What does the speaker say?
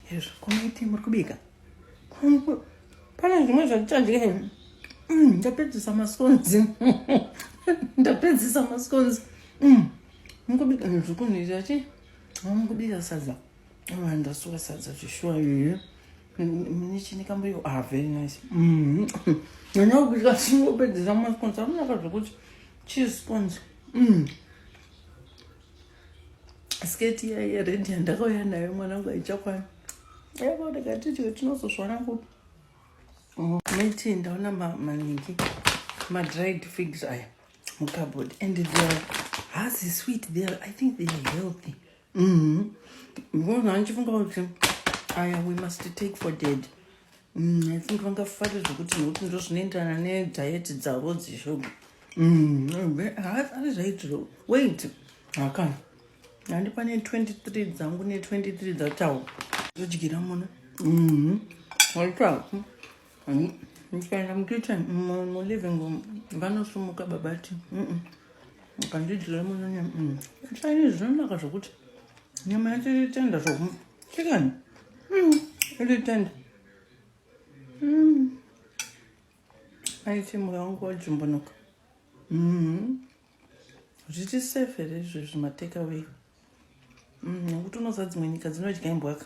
Hezvo komaiti muri kubika. Pane zvimwe zvatichadye hemu. Mm, ndapedzisa maskonzi. Ndapedzisa maskonzi. Mm. Mukubika zvikunoita chi? Mukubika sadza. Oh, ndasuka sadza zvishuwa iyo. Mune chini kambuyo. Ah, very nice. Mm. Nyanya kubika singopedzisa maskonzi. Amunaka zvekuti cheese skonzi. Mm. sketi iya yered yandakauya nayo mwanangu haichakwana aiva ndakati tio tinozozvana kupi mm, miti ndaona maningi madried figs aya mucabord and they're hazi sweet they're i think they're healthy mm-hmm. because andichifunga kuti aya we must take for dead Mm, I think vangafare zvekuti nokuti ndo zvinoenderana nediet dzavo dzeshuga haafari zvaitiro wait haka handi pane 23 dzangu ne23 dzatawo zodyira muna waitaku ndikaenda mukitchen muliving room vanosumuka babati akandidyira munonyama saini zvinonaka zvokuti nyama yacho itenda zvoku Chicken. Mm. Really tender. Mm. Aiti mura wangu wajumbunuka. Mm. Zviti safe here izvozvi mateka wei. Mm. Nokuti unoziva dzimwe nyika dzinodya imbwaka.